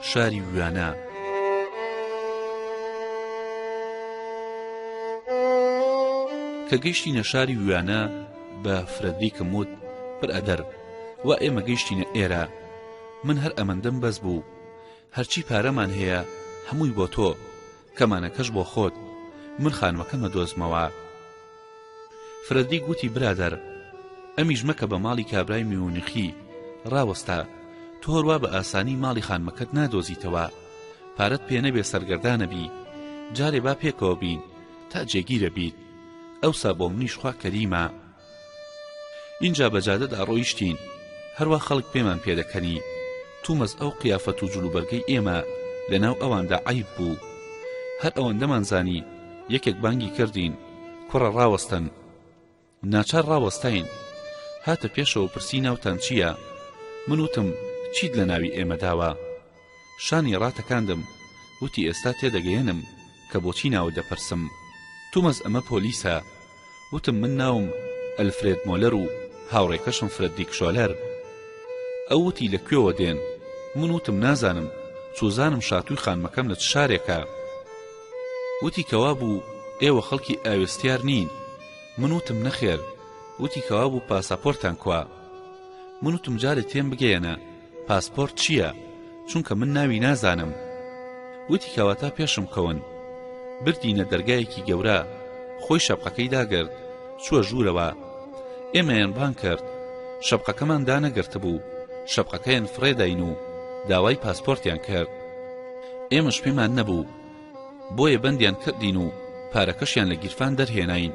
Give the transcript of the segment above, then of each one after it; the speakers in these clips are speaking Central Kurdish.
شاری ویانا. کە گەیشتینە شاری ویانا بە فرەدریکم وت برادەر وا ئێمە گەیشتینە ئێرە من هەر ئەمەندەم بەس بوو هەرچی پارەمان هەیە هەمووی بۆ تۆ کەمانەکەش بۆ خۆت من خانمەکەمە دۆزمەوە فرەدریک وتی برادەر ئەمیش مەکە بە ماڵی کابرای میونخی ڕاوەستە تۆ هەروا بە ئاسانی ماڵی خانمەکەت نادۆزیتەوە پارەت پێ نەبێ سەرگەردانەبی جارێ با پێکەوە بین تا جێگیرە بیت ئەوسا بۆ منیش خوا کەریمە ئینجا بە جادەدا ڕۆیشتین هەروە خەڵک پێمان پێدەکەنی تومەز ئەو قیافەت و جلوبەرگەی ئێمە لەناو ئەواندا عیب بوو هەر ئەوەندەمان زانی یەکێک بانگی کردین کوڕە ڕاوەستن ناچار ڕاوەستاین هاتە پێشەوە پرسی ناوتان چییە من وتم چیت لە ناوی ئێمە داوە شانی ڕاتەکاندم وتی ئێستا تێدەگەیەنم کە بۆچی ناوە دەپرسم تومەز ئەمە پۆلیسە وتم من ناوم ئەلفرێد مۆلەر و هاوڕێکەشم فرەدریک شۆلەر. ئەو وتی لە کوێوە دێن؟ من وتم نازانم، چوزانم شاتووی خانمەکەم لە چ شارێکە. وتی کەوابوو ئێوە خەڵکی ئاوێستیار نین؟ من وتم نەخێر. وتی کەوابوو پاساپۆرتتان کوا؟ من وتم جارێ تێم بگەیەنە، پاسپۆرت چییە؟ چونکە من ناوی نازانم. وتی کەواتە پێشم کەون. بردینە دەرگایەکی گەورە. خۆی شەپقەکەی داگرت. چووە ژوورەوە. ئێمەیان بانگ کرد. شەپقەکەمان دانەگرتبوو. شەپقەکەیان فڕێداین و داوای پاسپۆرتیان کرد. ئێمەش پێمان نەبوو. بۆیە بەندیان کردین و پارەکەشیان لە گیرفان دەرهێناین.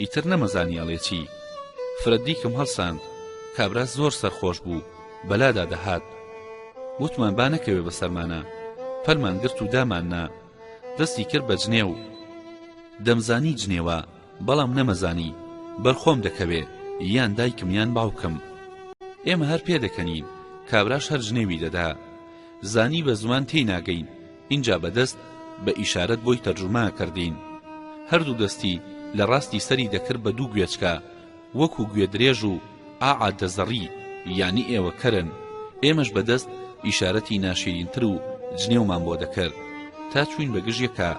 ئیتر نەمەزانی ئەڵێ چی فرە دیکم هەڵساند کابرا زۆر سەرخۆش بوو بەلادا دەهات وتمان با نەکەوێ بەسەرمانا پەلمان گرت و داماننا دەستی کرد بە جنێو دەمزانی جنێوە بەڵام نەمەزانی بەرخۆم دەکەوێ یان دایکم یان باوکم ئێمە هەر پێدەکەنین کابراش هەر جنێوی دەدا زانی بە زمان تێی ناگەین ئینجا بە دەست بە ئیشارەت بۆی تەرجومە کردین هەردوو دەستی لە ڕاستی سەری دەکرد بە دوو گوێچکە وەکو گوێ درێژ و ئاا دەزەڕی یانی ئێوە کەرن ئێمەش بە دەست ئیشارەتی ناشیرینتر و جنێومان بۆ دەکرد تا چووین بە گژ یەکا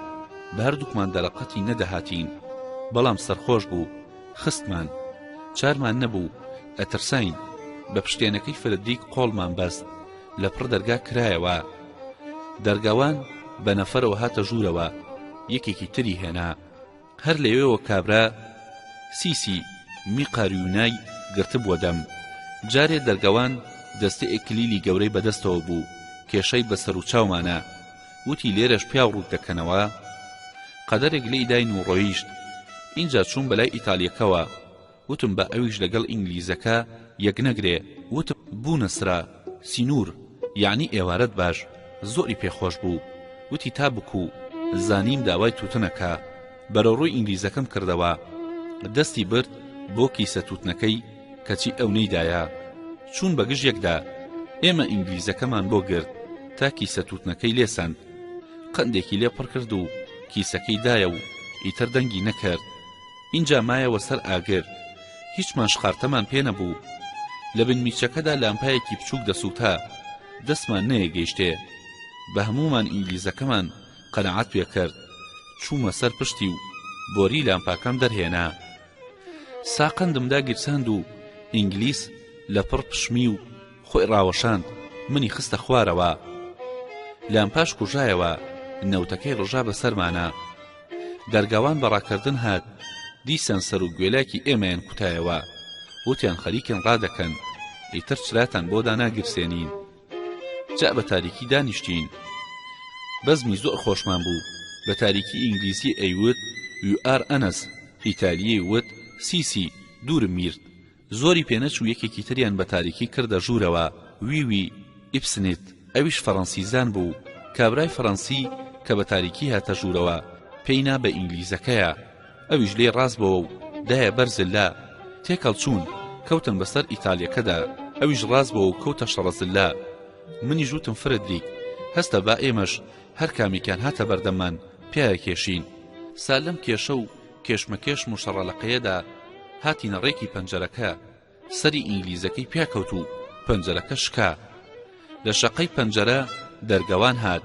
بە هەردووکمان دەرەقەتی نەدەهاتین بەڵام سەرخۆش بوو خستمان چارمان نەبوو ئەترساین بە پشتێنەکەی فرەدریک قۆڵمان بەست لە پڕ دەرگا کرایەوە دەرگاوان بە نەفەرەوە هاتە ژوورەوە یەکێکی تری هێنا هەر لەوێەوە کابرا سیسی می قاریونای گرتبووە دەم جارێ دەرگەوان دەستە ئێکلیلی گەورەی بەدەستەوە بوو کێشەی بەسەر و چاومانە وتی لێرەش پیاو ڕووت دەکەنەوە قەدەرێک لێی داین و ڕۆیشت اینجا چوون بەلای ئیتالیەکەوە وتم با ئەویش لەگەڵ ئینگلیزەکە یەک نەگرێ وتم بوونە سرا سینوور یەعنی ئێوارەت باش زۆری پێ خۆش بوو وتی تا بکوو زانیم داوای تووتنەکا بەرەڕووی ئینگلیزەکەم کردەوە دەستی برد بۆ کیسە تووتنەکەی کەچی ئەو نەیدایە چوون بەگژ یەکدا ئێمە ئینگلیزەکەمان بۆ گرت تا کیسە تووتنەکەی لێسەند قندێکی لێ پڕ کرد و کیسەکەی دایە و ئیتر دەنگی نەکرد ئینجا مایەوە سەر ئاگر هیچمان شقارتەمان پێ نەبوو لە بن میچەکەدا لامپایەکی بچووک دەسووتا دەستمان نەیەگەیشتێ بە هەموومان ئینگلیزەکەمان قەناعەت پێ کرد چوومە سەر پشتی و بۆری لامپاکەم دەرهێنا ساقەندم داگیرساند و ئینگلیس لە پڕ پشمی و خۆی ڕاوەشاند منی خستە خوارەوە لامپاش کوژایەوە نەوتەکەی ڕژا بە سەرمانە دەرگاوان بە ڕاکردن هات دیسان سەر و گوێلاکی ئێمەیان کوتایەوە وتیان خەریکن ڕادەکەن ئیتر چراتان بۆ داناگیرسێنین جا بە تاریکی دانیشتین بەزمی زۆر خۆشمان بوو بە تاریکی ئینگلیزی ئەیوت یو ئار ئەنەس ئیتالیی وت سی سی دوورم میرد زۆری پێ نەچوو یەکێکی تریان بە تاریکی کردە ژوورەوە، وی وی، ئیبسنیت، ئەویش فەڕەنسیزان بوو، کابرای فەڕەنسی کە بە تاریکی هاتە ژوورەوە پێی نا بە ئینگلیزەکەیە، ئەویش لێی ڕاست بۆوە و دایە بەر زللە، تێکەڵ چوون، کەوتن بە سەر ئیتالیەکەدا، ئەویش ڕاست بۆوە و کەوتە شەڕە زللە. منیش وتم فرەدریک، هەستە با ئێمەش هەر کامێکیان هاتە بەردەممان پیایەکێشین. سا لەم کێشە و کێشمەکێشم و شەڕەلەقێیەدا هاتینە ڕێکی پەنجەرەکە سەری ئینگلیزەکەی پێکەوت و پەنجەرەکە شکا لە شەقەی پەنجەرە دەرگەوان هات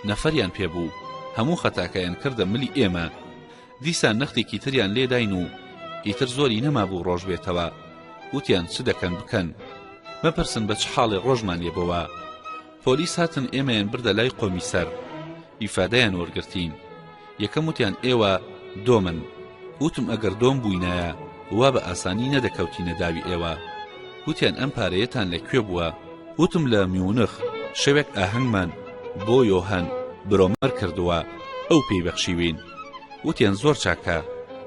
نەفەریان پێبوو هەموو خەتاکەیان کردە ملی ئێمە دیسان نەختێکی تریان لێداین و ئیتر زۆری نەمابوو ڕۆژ بێتەوە وتیان چ دەکەن بکەن مەپرسن بە چ حاڵێ ڕۆژمان لێبەوە پۆلیس هاتن ئێمەیان بردە لای قۆمیسەر ئیفادەیان وەرگرتین یەکەم وتیان ئێوە دۆمن وتم ئەگەر دۆم بووینایە وا بە ئاسانی نەدەکەوتینە داوی ئێوە وتیان ئەم پارەیەتان لە کوێ بووە وتم لە میونخ شەوێک ئاهەنگمان بۆ یۆهان برۆمەر کردووە ئەو پێی بەخشیوین وتیان زۆر چاکە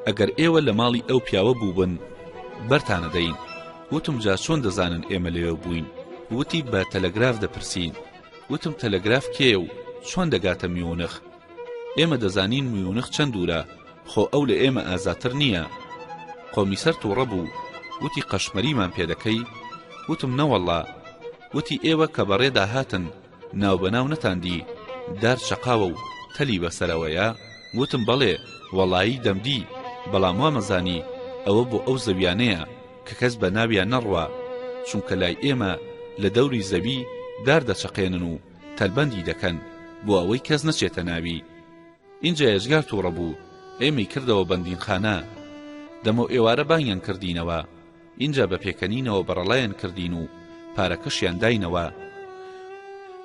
ئەگەر ئێوە لە ماڵی ئەو پیاوە بووبن بەرتانەدەین وتم جا چۆن دەزانن ئێمە لەوێ بووین وتی بە تەلەگراف دەپرسین وتم تەلەگراف کێیە و چۆن دەگاتە میونخ ئێمە دەزانین میونخ چەند دوورە خۆ ئەو لە ئێمە ئازاتر نییە قۆمیسەر تووڕە بوو وتی قەشمەریمان پێ دەکەی وتم نەوەڵڵا وتی ئێوە کە بەڕێدا هاتن ناوبەناو نەتاندی دار چەقاوە و تەلی بەسەرەوەیە؟ وتم بەڵێ وەڵایی دەمدی، بەڵام وامەزانی ئەوە بۆ ئەو زەویانەیە کە کەس بە ناویان نەڕوا، چونکە لای ئێمە لە دەوری زەوی دار دەچەقێنن و تەلبەندی دەکەن بۆ ئەوەی کەس نەچێتە ناوی. ئینجا ئێجگار تووڕە بوو، ئێمەی کردەوە بەندینخانە. دەمەوئێوارە بانگیان کردینەوە. ئینجا بە پێکەنینەوە بەڕەڵایان کردین و پارەکەشیان داینەوە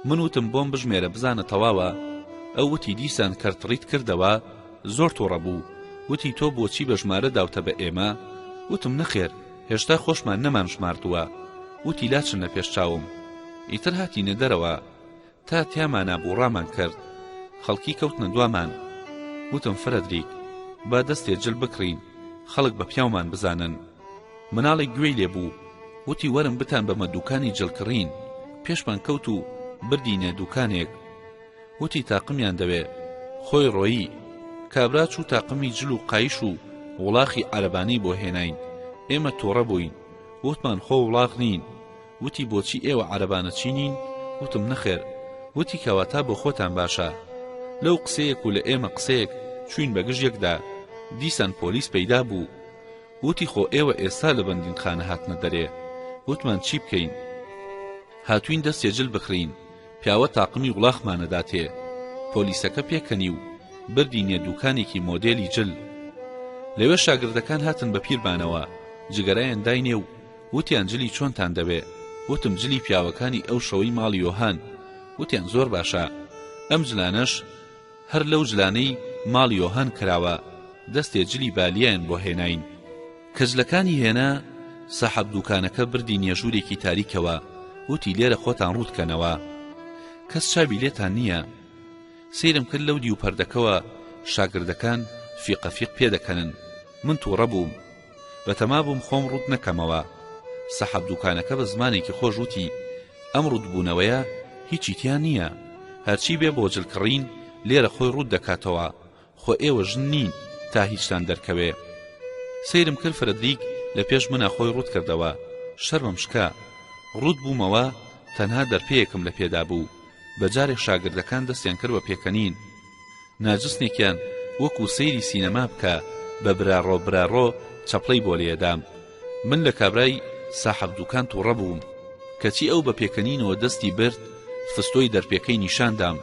من وتم بۆم بژمێرە بزانە تەواوە ئەو وتی دیسان کەرتڕیت کردەوە زۆر توڕە بوو وتی تۆ بۆچی بە ژمارە داوتە بە ئێمە وتم نەخێر هێشتا خۆشمان نەمان ژماردووە وتی لاچنە پێش چاوم ئیتر هاتینە دەرەوە تا تیامانا بوو ڕامان کرد خەڵکی کەوتنە دوامان وتم فرەدریک با دەستێ جل بکڕین خەڵک بە پیاومان بزانن مناڵێک گوێی لێ بوو وتی وەرم بتان بەمە دووکانی جل کڕین پێشمان کەوت و بردینێ دووکانێک وتی تاقمیان دەوێ خۆی ڕۆیی کابرا چوو تاقمی جل و قایش و وڵاخی عەرەبانەی بۆ هێناین ئێمە تۆڕە بووین وتمان خۆ وڵاخ نین وتی بۆچی ئێوە عەرەبانە چی نین؟ وتم نەخێر وتی کەواتە بۆ خۆتان باشە لەو قسەیەک و لە ئێمە قسەیەک چوین بە گژ یەکدا دیسان پۆلیس پەیدا بوو وتی خۆ ئێوە ئێستا لە بەندینخانە هاتنە دەرێ وتمان چی بکەین هاتوین دەستێ جل بکڕین پیاوە تاقمی وڵاخمانەدا تێ پۆلیسەکە پێکەنی و بردینێ دوکانێکی مۆدێلی جل لەوێ شاگردەکان هاتن بە پیربانەوە جگەرەیان داینێ و وتیان جلی چۆنتان دەوێ؟ وتم جلی پیاوەکانی ئەو شەوەی ماڵی یۆهان. وتیان زۆر باشە. ئەم جلانەش هەر لەو جلانەی ماڵی یۆهان کراوە، دەستێ جلی بالیایان بۆ هێناین. کە جلەکانی هێنا، ساحەب دووکانەکە بردی نییە ژوورێکی تاریکەوە، وتی لێرە خۆتان ڕووت کەنەوە. کەس چاوی لێتان نییە. سەیرم کرد لەو دیو پەردەکەوە شاگردەکان فیقە فیق پێ دەکەنن. من تووڕە بووم. بەتەما بووم خۆم ڕووت نەکەمەوە. سەحەب دووکانەکە بە زمانێکی خۆش وتی، ئەم ڕووتبوونەوەیە هیچی تیا نییە. هەرچی بێ بۆ جل کڕین لێرە خۆی ڕووت دەکاتەوە. خۆ ئێوە ژن نین تا هیچتان دەرکەوێ. سەیرم کرد فرەدریک لە پێش منا خۆی ڕووت کردەوە. شەرمم شکا. ڕووت بوومەوە، تەنها دەرپێیەکم لە پێدا بوو. بە جارێ شاگردەکان دەستیان کرد بە پێکەنین. ناجسنێکیان وەکو سەیری سینەما بکە بە براڕۆ براڕۆ چەپڵەی بۆ لێدام من لە کابرای ساحەب دوکان توڕە بووم کەچی ئەو بە پێکەنینەوە دەستی برد فستۆی دەرپێکەی نیشان دام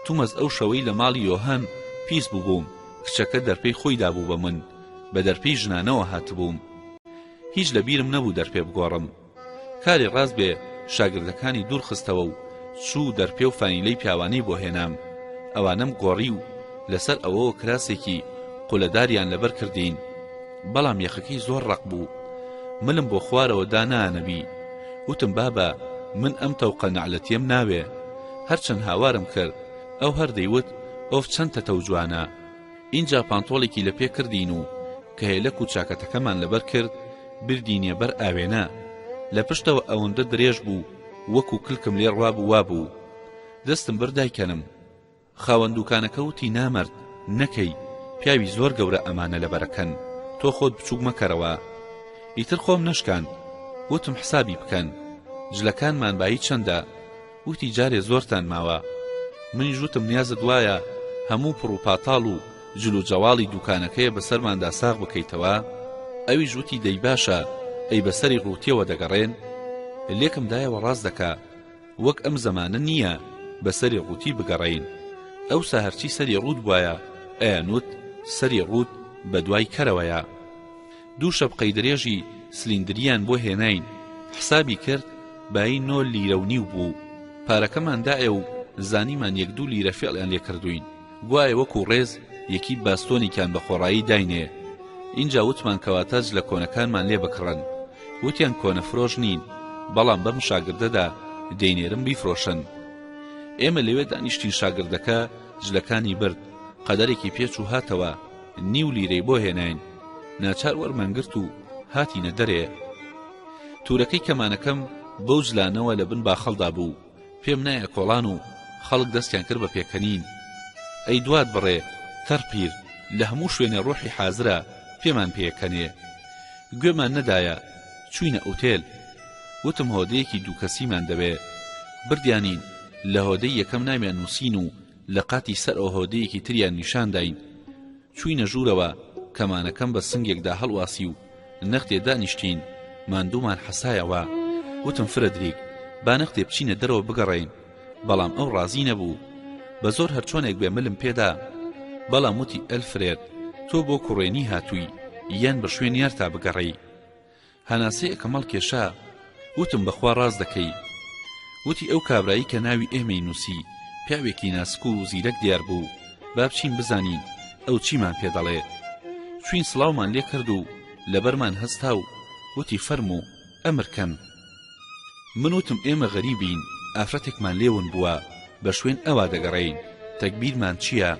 تومەز ئەو شەوەی لە ماڵی یۆهان پیس ببووم کچەکە دەرپێی خۆی دابوو بە من بە دەرپێی ژنانەوە هاتبووم هیچ لە بیرم نەبوو دەرپێ بگۆڕم کاری ڕاست بێ شاگردەکانی دوور خستەوە و چوو دەرپێ و فانیلەی پیاوانی بۆ هێنام ئەوانەم گۆڕی و لەسەر ئەوەوە کراسێکی قولەداریان لەبەر کردین بەڵام یەخەکەی زۆر ڕەق بوو ملم بۆ خوارەوە دانانەبی وتم بابە من ئەم تەوقە نەعلەتیم ناوێ هەرچەند هاوارم کرد ئەو هەر دەیوت ئۆف چەند تەتەو جوانە ئینجا پانتۆڵێکی لە پێ کردین و کەیەلەک و چاکەتەکەمان لەبەر کرد بردینیە بەر ئاوێنە لە پشتەوە ئەوەندە درێژ بوو وەکو کلکم لێ ڕوابوو وابوو دەستم برد دایکەنم خاوەن دوکانەکە وتی نامەرد نەکەی پیاوی زۆر گەورە ئەمانە لەبەرەکەن تۆ خۆت بچووک مەکەرەوە ئیتر خۆم نەشکاند وتم حسابی بکەن جلەکانمان بایی چەندە وتی جارێ زۆرتان ماوە منیش وتم نیازت وایە هەموو پڕ و پاتاڵ و جل و جەواڵی دووکانەکەیە بەسەرماندا ساغ بکەیتەوە ئەویش وتی دەی باشە ئەی بەسەری ڕووتیەوە دەگەڕێن لێکم دایەوە ڕاست دەکا وەک ئەم زەمانە نییە بەسەری ڕووتی بگەڕین ئەوسا هەرچی سەری ڕووت بواە ئەیانوت سەری ڕووت بە دوای کەرەوەیە دوو شەپقەی درێژی سلیندریان بۆ هێناین حسابی کرد بایی نۆ لیرە و نیو بوو پارەکەمان دایە و زانیمان یەک دوو لیرە فێڵیان لێ کردووین گوایە وەکوو ڕێز یەکی باستۆنیکان بە خۆڕایی داینێ ئینجا وتمان کەواتە جلە کۆنەکانمان لێ بکڕن وتیان کۆنە فرۆش نین بەڵام بەم شاگردەدا دەینێرم بیفرۆشن ئێمە لەوێ دانیشتین شاگردەکە جلەکانی برد قەدەرێکی پێچ و هاتەوە نیو لیرەی بۆ هێناین ناچار وەرمانگرت و هاتینە دەرێ تورەکەی کەمانەکەم بەو جلانەوە لە بن باخەڵدا بوو پێم نایە کۆڵان و خەڵک دەستیان کرد بە پێکەنین ئەی دوات بڕێ تەرپیر لە هەموو شوێنێ ڕۆحی حازرە پێمان پێکەنێ گوێمان نەدایە چوینە ئوتێل وتم هۆدەیەکی دووکەسیمان دەوێ بردیانین لە هۆدەی یەکەم ناویان نووسین و لە قاتی سەرەوە هۆدەیەکی تریان نیشان داین چووینە ژوورەوە کەمانەکەم بە سنگێکدا هەڵواسی و نەختێ دانیشتین ماندوومان حەسایەوە وتم فرەدریک با نەختێ بچینە دەرەوە بگەڕێین بەڵام ئەو ڕازی نەبوو بە زۆر هەرچۆنێک بێ ملم پێدا بەڵام وتی ئەلفرێت تۆ بۆ کوڕێنی هاتووی یان بە شوێن یارتا بگەڕێی هەناسەی ئەکەمەڵ کێشا وتم بەخوا ڕاست دەکەی وتی ئەو کابرایی کە ناوی ئێمەی نووسی پیاوێکی ناسک و زیرەک دیار بوو با بچین بزانین ئەو چیمان پێ دەڵێ چوین سڵاومان لێ کرد و لەبەرمان هەستا و وتی فەرموو ئەمر کەن من وتم ئێمە غەریبین ئافرەتێکمان لێ ون بووە بە شوێن ئەوا دەگەڕێین تەگبیرمان چییە؟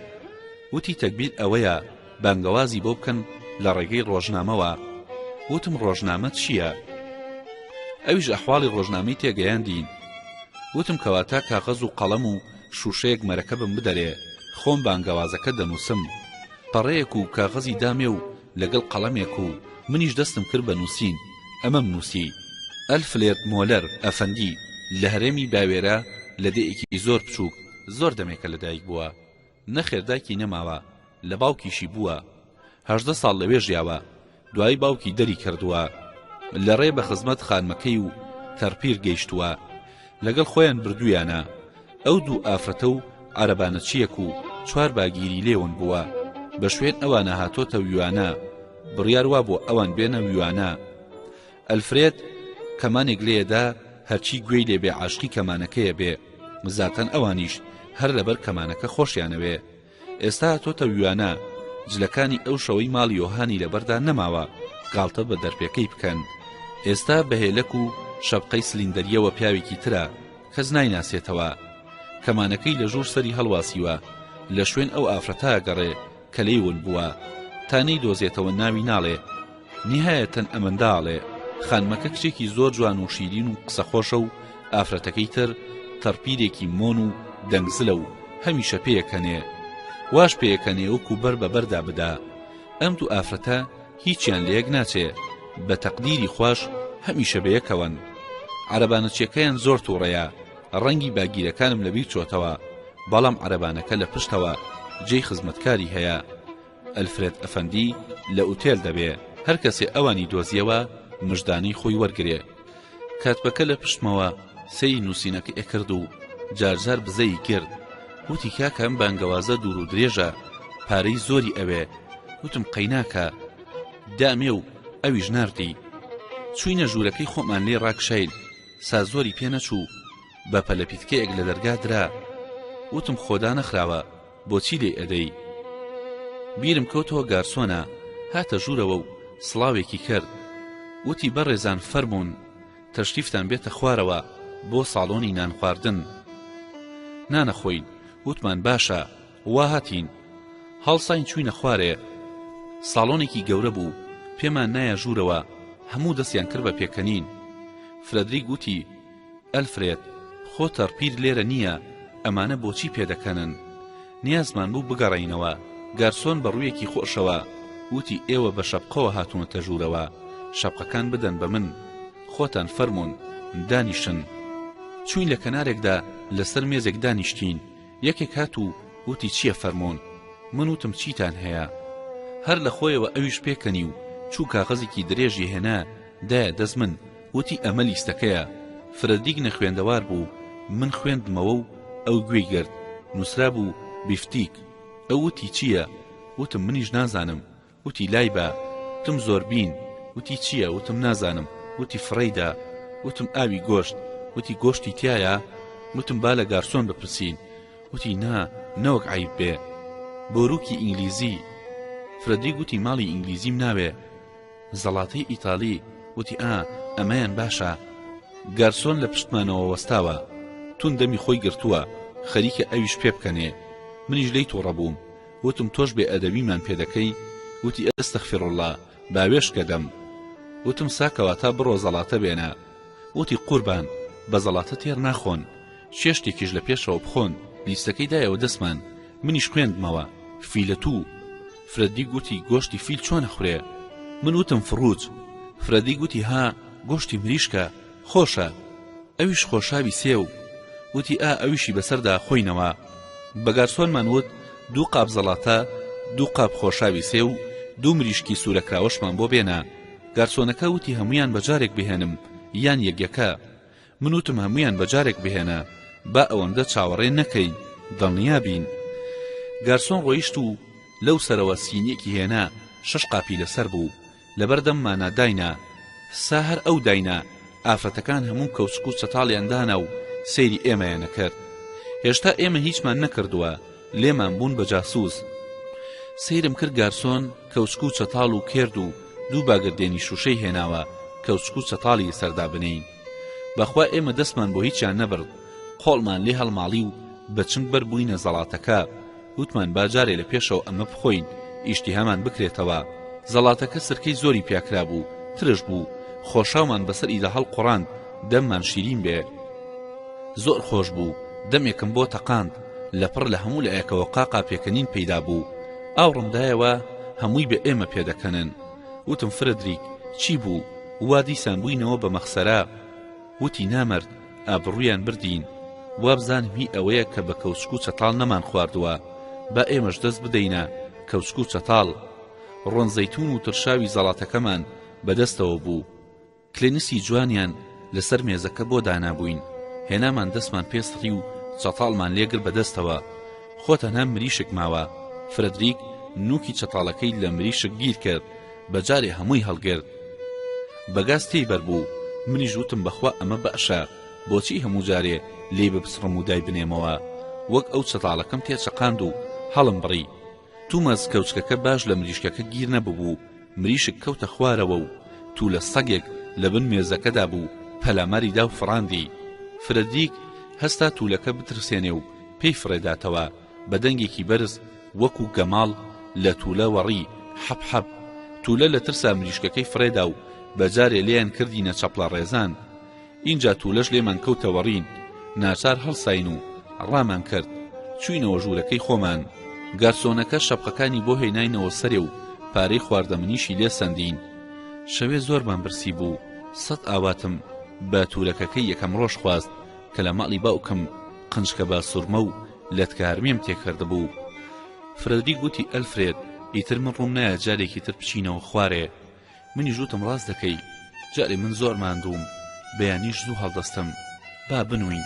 وتی تەگبیر ئەوەیە بانگەوازی بۆ بکەن لە ڕێگەی ڕۆژنامەوە وتم ڕۆژنامە چییە؟ ئەویش ئەحواڵی ڕۆژنامەی تێگەیاندین وتم کەواتە کاغەز و قەڵەم و شووشەیەک مەرەکەبم بدەرێ خۆم بانگەوازەکە دەنووسم پەڕەیەک و کاغەزی دامێ و لەگەڵ قەڵەمێک و منیش دەستم کرد بە نووسین ئەمەم نووسی، ئەلفلێرد مۆلەر ئەفەندی لە هەرێمی باوێرە لە دێیەکی زۆر بچووک زۆر دەمێکە لە دایک بووە، نەخێر دایکی نەماوە لە باوکیشی بووە هەژدە ساڵ لەوێ ژیاوە دوایی باوکی دەری کردووە لە ڕێ بە خزمەت خانمەکەی و تەرپیر گەیشتووە، لەگەڵ خۆیان بردوویانە ئەو دوو ئافرەتە و عەرەبانەچییەک و چوار باگیری لێ ون بووە، بە شوێن ئەوانە هاتۆتە ویوانە، بڕیار وا بووە ئەوان بێنە ویوانە. ئەلفرێد کەمانێک لێ دا، هەرچی گوێی لێ بێ عاشقی کەمانەکەیە بێ، زاتەن ئەوانیش هەر لەبەر کەمانەکە خۆشیانەوێ، ئێستا تۆ تەویوانە جلەکانی ئەو شەوەی ماڵی یۆهانی لەبەردا نەماوە گاڵتە بە دەرپێکەی بکەن ئێستا بە هێلەک و شەپقەی سلیندەرییەوە پیاوێکی ترە کەس نایناسێتەوە کەمانەکەی لە ژوور سەری هەڵواسیوە لە شوێن ئەو ئافرەتە گەڕێ کە لێی ون بووە تا نەیدۆزێتەوە ناوی ناڵێ نیهایەتەن ئەمەندا ئەڵێ خانمەکە کچێکی زۆر جوان و شیرین و قسە خۆشە و ئافرەتەکەی تر تەڕپیرێکی مۆن و دەنگزلە و هەمیشە پێیەکەنێ واش پێیەکەنێ وەکو بەر بە بەردا بدا ئەم دوو ئافرەتە هیچیان لە یەک ناچێ بە تەقدیری خوش هەمیشە بەیەکەوەن عربانەچیەکەیان زۆر تووڕەیە ڕەنگی باگیرەکانم لەبیر چۆتەوە بەڵام عربانەکە لە پشتەوە جێی خزمەتکاری هەیە ئەلفرێد ئەفەندی لە ئوتێل دەبێ هەر کەسێ ئەوانی دۆزیەوە مژدانەی خۆی وەرگرێ کاتبەکە لە پشتمەوە سەیری نووسینەکە ئەکرد و جارجار بزەی کرد وتی کاکە ئەم بانگەوازە دوور و درێژە پارەی زۆری ئەوێ وتم قەیناکە دامێ و ئەویش ناردی چوینە ژوورەکەی خۆمان لێ ڕاکشایل سا زۆری پێ نەچوو بە پەلەپیتکەیەک لە دەرگا درا وتم خۆدا نەخراوە بۆچی لێی ئەدەی؟ بیرم کەوتەوە گارسۆنە هاتە ژوورەوە و سڵاوێکی کرد وتی بەڕێزان فەرموون تەشریفتان بێتە خوارەوە بۆ ساڵۆنی نانخواردن نانەخۆین وتمان باشە وا هاتین هەڵساین چووینە خوارێ ساڵۆنێکی گەورە بوو پێمان نایە ژوورەوە هەموو دەستیان کرد بە پێکەنین فرەدریک وتی ئەلفرێد، خۆ تەڕپیر لێرە نییە، ئەمانە بۆچی پێدەکەنن؟ نیازمان بوو بگەڕێینەوە. گارسۆن بە ڕوویەکی خۆشەوە وتی ئێوە بە شەپقەوە هاتوونەتە ژوورەوە، شەپقەکان بدەن بە من. خۆتان فەرموون، دانیشن. چووین لە کەنارێکدا لەسەر مێزێک دانیشتین، یەکێک هات و وتی چییە فەرموون؟ من وتم چیتان هەیە؟ هەر لە خۆیەوە ئەویش پێکەنی و چوو کاغەزێکی درێژی هێنا، دە دەست من وتی ئەمە لیستەکەیە فرەدیگ نەخوێندەوار بوو من خوێندمەوە و ئەو گوێی گرت نوسرابوو بیفتیک ئەو وتی چییە وتم منیش نازانم وتی لای بە وتم زۆربین وتی چییە وتم نازانم وتی فڕێیدە وتم ئاوی گۆشت وتی گۆشتی تایە وتم با لە گارسۆن بپرسین وتی نا نەوەک عیب بێ بۆروکی ئینگلیزی فرەدیگ وتی ماڵی ئینگلیزیم ناوێ زەڵاتەی ئیتالی وتی ئا ئەمەیان باشە گارسۆن لە پشتمانەوە وەستاوە تون دەمی خۆی گرتووە خەریکە ئەویش پێ بکەنێ منیش لێی توڕە بووم وتم تۆش بێ ئەدەبیمان پێ دەکەی وتی ئەستەغفراللە باوێشکە دەم وتم ساکەواتا بڕۆ زەڵاتە بێنە وتی قوربان بە زەڵاتە تێر ناخۆن چێشتێکیش لە پێشەوە بخۆن لیستەکەی دایەوە دەستمان منیش خوێندمەوە فیلە تو فرەدریک وتی گۆشتی فیل چۆن ئەخورێ؟ من وتم فڕووج. فرەدریک وتی ها، گۆشتی مریشکە، خۆشە. ئەویش خۆشاوی سێو. وتی ئا ئەویشی بەسەردا خۆینەوە. بە گارسۆنمان وت دوو قاپ زەڵاتە، دوو قاپ خۆشاوی سێو و دوو مریشکی سوورەکراوەشمان بۆ بێنە. گارسۆنەکە وتی هەموویان بە جارێک بهێنم یان یەک یەکە؟ من وتم هەموویان بەجارێک بهێنە با ئەوەندە چاوەڕێ نەکەی دڵنیا بین گارسۆن ڕۆیشت و لەو سەرەوە سینیەکی هێنا شەش قاپی لەسەر بوو لەبەردەم مانا داینا سا هەر ئەو داینا ئافرەتەکان هەموو کەوچک و چەتاڵیان دانا و سەیری ئێمەیان ئەکرد هێشتا ئێمە هیچمان نەکردووە لێمان بوون بە جاسوس سەیرم کرد گارسۆن کەوچک و چەتاڵ و کێرد و دوو باگردێنی شوشەی هێناوە کەوچک و چەتاڵی سەردا بنێین بەخوا ئێمە دەستمان بۆ هیچیان نەبرد قۆڵمان لێ هەڵماڵی و بە چنگ بەر بووینە زەڵاتەکە وتمان با جارێ لە پێشەوە ئەمە بخۆین ئیشتیهامان بکرێتەوە زەڵاتەکە سرکەی زۆری پیاکرا بوو ترش بوو خۆشاومان بەسەر ئیدا هەڵقڕاند دەممان شیرین بێ زۆر خۆش بوو دەمێکم بۆ تەقاند لەپڕ لە هەموو لایەکەوە قاقا پێکەنین پەیدا بوو ئاوڕمدایەوە هەمووی بە ئێمە پێدەکەنن وتم فرەدریک چی بوو وا دیسان بووینەوە بە مەخسەرە؟ وتی نامەرد ئابڕوویان بردین، وابزانم هی ئەوەیە کە بە کەوچک و چەتاڵ نەمانخواردووە، با ئێمەش دەست بدەینە کەوچک و چەتاڵ. ڕۆن زەیتوون و ترشاوی زەڵاتەکەمان بە دەستەوە بوو. کلێنسی جوانیان لەسەر مێزەکە بۆ دانابووین هێنامان دەستمان پێ سڕی و چەتاڵمان لێ گرت بەدەستەوە خۆ تەنها مریشک ماوە فرەدریک نووکی چەتاڵەکەی لە مریشک گیر کرد بەجارێ هەمووی هەڵگرت بەگاز تێی بەربوو منیش وتم بەخوا ئەمە بەشە بۆچی هەموو جارێ لێی بپسڕم و دایبنێمەوە وەک ئەو چەتاڵەکەم تێچەقاند و هەڵم بڕی تومەز کەوچکەکە باش لە مریشکەکە گیر نەببوو، مریشک کەوتە خوارەوە و تولە سەگێک لە بن مێزەکەدا بوو پەلاماری دا و فڕاندی. فرەدریک هەستا تولەکە بترسێنێ و پێی فڕێداتەوە، بە دەنگێکی بەرز وەکوو گەماڵ لە تولە وەڕی، حەپ حەپ. تولە لە ترسا مریشکەکەی فڕێدا و بە جارێ لێیان کردینە چەپڵە ڕێزان. ئینجا تولەش لێمان کەوتە وەڕین ناچار هەڵساین و ڕامان کرد چوینەوە ژورەکەی خۆمان گارسۆنەکە شەپقەکانی بۆ هێناینەوە سەرێ و پارەی خواردەمنیشی لێ سەندین شەوێ زۆرمان برسی بوو سەد ئاواتم بە تورەکەکەی یەکەم ڕۆژ خواست کە لە ماڵی باوکم قنجکە با سورمە و لەتکە هەرمیم تێکردبوو فرەدریک گوتی ئەلفرێد ئیتر من ڕوم نایە جارێکی تر بچینەوە خوارێ منیش وتم ڕاست دەکەی جارێ من زۆر ماندووم بەیانیش زوو هەڵدەستم با بنووین.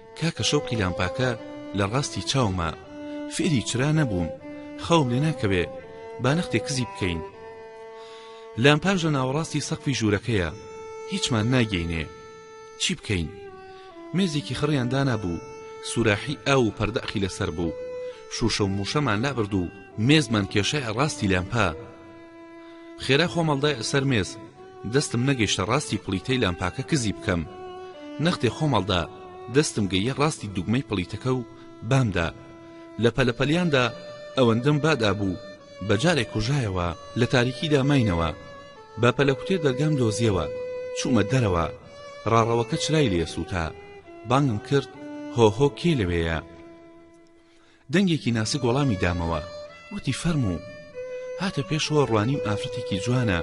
کاکە شەوقی لامپاکە لە ڕاستی چاوما فێری چرا نەبووم خەوم لێ ناکەوێ با نەختێ کزی بکەین لامپاش لە ناوەڕاستی سەقفی ژوورەکەیە هیچمان ناگەینێ چی بکەین مێزێکی خڕیان دانا بوو سوراحی ئاو و پەردەخی لەسەر بوو شوشە و موشەمان لابرد و مێزمان کێشای ڕاستی لامپا خێرا خۆم هەڵدایە سەر مێز دەستم نەگەیشتە ڕاستی پڵیتەی لامپاکە کزی بکەم نەختێ خۆم هەڵدا دەستم گەییە ڕاستی دوگمەی پڵیتەکە و بامدا لە پەلە پەلیاندا ئەوەندەم بادا بوو بە جارێک کوژایەوە لە تاریکیدا ماینەوە بە پەلەکوتێ دەرگام دۆزیەوە چوومە دەرەوە ڕاڕەوەکە چرای لێ سووتا بانگم کرد هۆهۆ کێ لەوێیە دەنگێکی ناسک وەڵامی دامەوە وتی فەرموو هاتە پێشەوە ڕوانیم ئافرەتێکی جوانە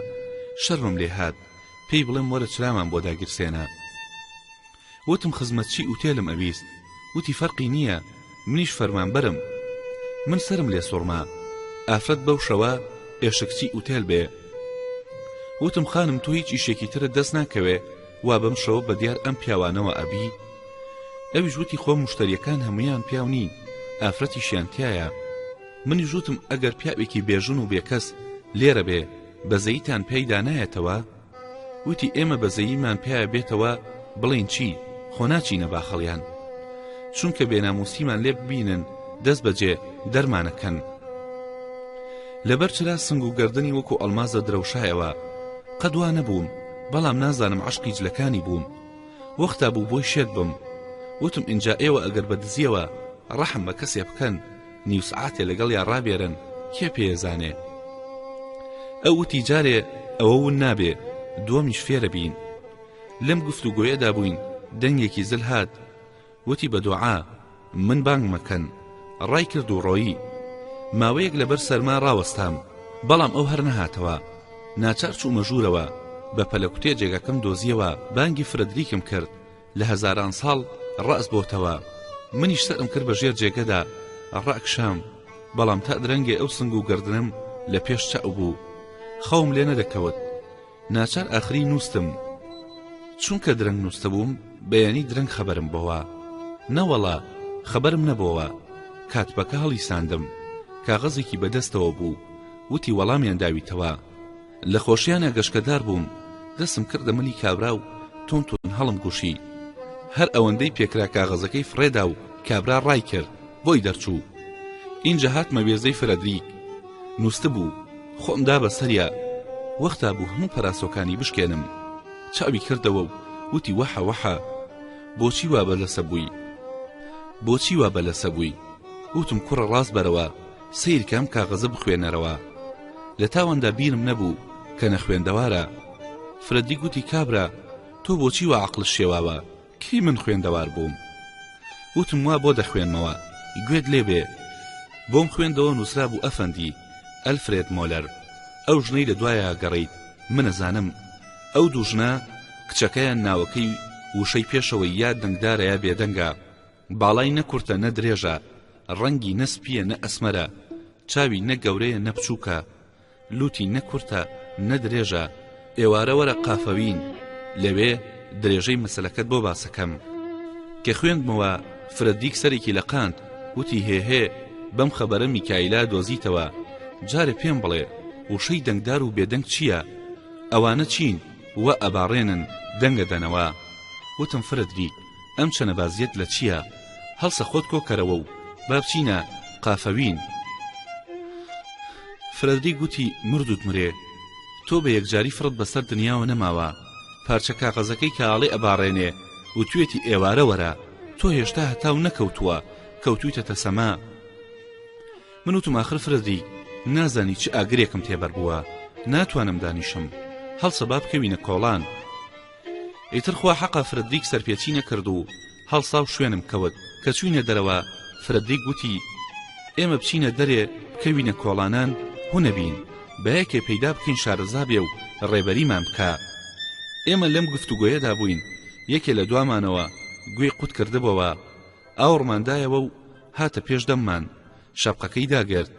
شەرمم لێ هات پێی بڵێم وەرە چرامان بۆ داگیرسێنە وتم خزمەتچی ئوتێلم ئەویست وتی فەرقی نییە منیش فەرمانبەرم من سرم لێ سوڕما ئافرەت بەو شەوە ئێشکچی ئوتێل بێ وتم خانم تۆ هیچ ئیشێکی ترت دەست ناکەوێ وا بەم شەوە بەدیار ئەم پیاوانەوە ئەبی؟ ئەویش وتی خۆ موشتەریەکان هەموویان پیاو نین ئافرەتیشیان تیایە منیش وتم ئەگەر پیاوێکی بێژن و بێکەس لێرە بێ بەزەییتان پێی دانایەتەوە؟ وتی ئێمە بەزەییمان پیاە بێتەوە بڵێین چی خۆ ناچینە باخەڵیان چونکە بێناموسیمان لێ ببینن دەست بەجێ دەرمانەکەن لەبەر چرا سنگ و گردنی وەکو ئەلمازە درەوشایەوە قەدوا نەبووم بەڵام نازانم عەشقی جلەکانی بووم وەختا بوو بۆی شێت بم وتم ئینجا ئێوە ئەگەر بە دزیەوە ڕەحم بە کەسێ بکەن نیو سعاتێ لەگەڵ یا ڕابێرن کێ پێزانێ ئەو وتی جارێ ئەوە ون نابێ دووەمیش فێرە بین لەم گفتوگۆیەدا بووین دەنگێکی زل هات وتی بە دوعا من بانگ مەکەن ڕای کرد و ڕۆیی ماوەیەک لەبەر سەرما ڕاوەستام بەڵام ئەو هەر نەهاتەوە ناچار چوومە ژوورەوە بە پەلەکوتێ جێگەکەم دۆزیەوە بانگی فرەدریکم کرد لە هەزاران ساڵ ڕاست بۆتەوە منیش سەرم کرد بە ژێر جێگەدا ڕاکشام بەڵام تا درەنگێ ئەو سنگ و گردنم لە پێش چاو بوو خەوم لێ نەدەکەوت ناچار ئاخری نوستم چونکە درەنگ نوستبووم بەیانی درەنگ خەبەرم بۆوە نەوەڵا خەبەرم نەبۆوە کاتپەکە هەڵی ساندم کاغەزێکی بەدەستەوە بوو وتی وەڵامیان داویتەوە لە خۆشیانە گەشکەدار بووم دەسم کردە ملی کابرا و تۆن تۆن هەڵم گوشی هەر ئەوەندەی پێکرا کاغەزەکەی فڕێدا و کابرا ڕای کرد بۆی دەرچوو ئینجا هاتمە وێزەی فرەدریک نووستبوو، خۆم دا بە سەریا، وەختا بوو هەموو پەراسۆکانی بشکێنم. چاوی کردەوە و وتی وەحە وەحە، بۆچی وا بە لەسە بووی؟ بۆچی وا بە لەسە بووی؟ وتم کوڕە ڕاست بەرەوە، سەیر کە ئەم کاغەزە بخوێنەرەوە. لە تاواندا بیرم نەبوو کە نەخوێندەوارە. فرەدریک وتی کابرا، تۆ بۆچی وا عەقڵت شێواوە؟ کی من خوێندەوار بووم وتم وا بۆ دەخوێنمەوە گوێت لێ بێ بۆم خوێندەوە نووسرابوو ئەفەندی ئەلفرێد مۆلەر ئەو ژنەی لە دوایە گەڕیت من ئەزانم ئەو دوو ژنە کچەکەیان ناوەکەی وشەی پێشەوەی یا دەنگدارە یا بێدەنگە باڵای نە کورتە نە درێژە ڕەنگی نە سپییە نە ئەسمەرە چاوی نە گەورەیە نە بچووکە لوتی نە کورتە نە درێژە ئێوارە وەرە قافەوین لەوێ درێژەی مەسەلەکەت بۆ باسەکەم کە خوێندمەوە فرە دیک سەرێکی لە قاند وتی هێهێ بەم خەبەرە میکایلا دۆزیتەوە جارێ پێم بڵێ وشەی دەنگدار و بێدەنگ چییە ئەوانە چین وە ئەباڕێنن دەنگە دەنەوە وتم فرە دیک ئەم چەنەبازیەت لە چیە هەڵسە خۆت کۆکەرەوە و با بچینە قافەوین فرەدریک گوتی مردوت مرێ تۆ بە یەکجاری فڕت بەسەر دنیاوە نەماوە پارچە کاغەزەکەی کە ئاڵێ ئەباڕێنێ و توێتی ئێوارە وەرە تۆ هێشتا هەتاو نەکەوتووە کەوتویتە تەسەما من وتم ئاخر فرەدریک نازانی چ ئاگرێکم تێبەر بووە ناتوانم دانیشم هەڵسە با بکەوینە کۆڵان ئیتر خوا حەقە فرەدریک سەرپێچی نەکرد و هەڵسا و شوێنم کەوت کە چووینە دەرەوە فرەدریک وتی ئێمە بچینە دەرێ بکەوینە کۆڵانان هو نەبین با یەکێ پەیدا بکەین شارەزا بێ و ڕێبەریمان بکا ئێمە لەم گفتوگۆیەدا بووین یەکێ لە دوامانەوە گوێی قوت کردبۆوە ئاوڕمان دایەوە و هاتە پێش دەممان شەپقەکەی داگرت